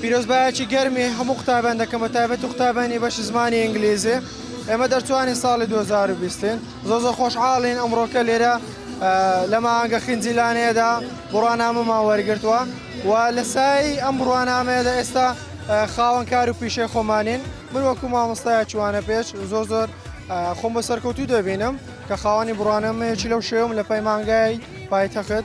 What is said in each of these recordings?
پیرۆزبایەکی گەرمی هەموو قوتابیان دەکەم بە تایبەت و قوتابیانی بەشی زمانی ئینگلیزی ئێمە دەرچوانی ساڵی 2020 ین زۆ زۆ خۆشحاڵین ئەمڕۆکە لێرە لە ماگە خنجیلانەیەدا بڕوانامەمان وەرگتووە و لە سای ئەم بڕوانامەیەدا ئێستا خاوەن کار و پیشەی خۆمانین من وەکو مامۆستای چوانە پێش زۆر زۆر خۆم بە سەرکەوتوو دەبینم کە خاوەنی بڕوانەمەیەکی لەو شێوم لە پەیمانگای پایتەخت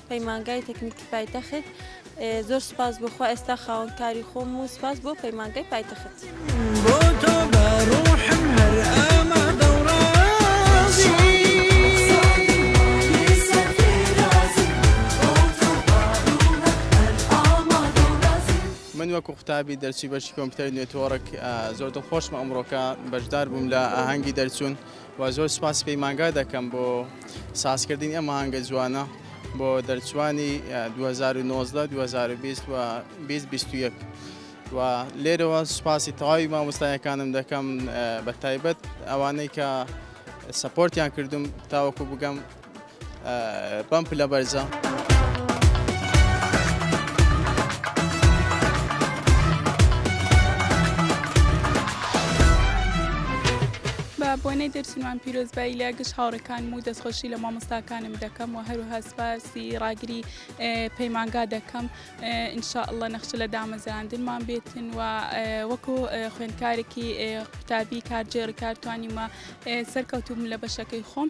پەیمانگای تەکنیکی پایتەخت زۆر سپاس بۆ خوا ئێستا خاوەن کاری خۆم و سپاس بۆ پەیمانگای پایتەخت بۆ تۆ بە ڕوحم هەر ئامادە و ڕازی. من وەکو قوتابی دەرچووی بەشی کۆمپیوتەری نێتۆرک زۆر دڵخۆشم ئەمڕۆکە بەشدار بووم لە ئاهەنگی دەرچوون وە زۆر سوپاسی پەیمانگا دەکەم بۆ سازکردنی ئەم ئاهەنگە جوانە بۆ دەرچووانی دوو هەزار و نۆزدە دوو هەزار و بیست و بیست بیست و یەک و لێرەوە سوپاسی تەواوی مامۆستایەکانم دەکەم بە تایبەت ئەوانەی کە سەپۆرتیان کردوم تاوەکو بگەم بەم پلە بەرزە. بۆنەی دەرچنوان پیرۆزبایی لە گشت هاوڕەکانم و دەستخۆشی لە مامۆستاکانم دەکەم و هەروها سپاسی ڕاگری پەیمانگا دەکەم انشاءله نەخش لە دامەزراندنمان بێتن و وەکو خوێندکارێکی قوتابی کارجێڕ کارتوانیمە سەرکەوتوم لە بەشەکەی خۆم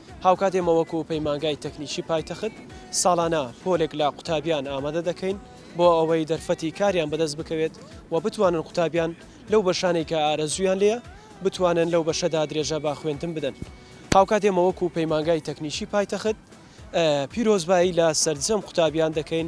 هاوکات ئێمە وەکو پەیمانگای تەکنیکی پایتەخت ساڵانە پۆلێک لە قوتابیان ئامادە دەکەین بۆ ئەوەی دەرفەتی کاریان بەدەست بکەوێت و بتوانن قوتابیان لەو بەشانەی کە ئارەزوویان لێیە بتوانن لەو بەشەدا درێژە بە خوێندن بدەن هاوکات ئێمە وەکو پەیمانگای تەکنیکی پایتەخت پیرۆزبایی لە سەرجەم قوتابیان دەکەین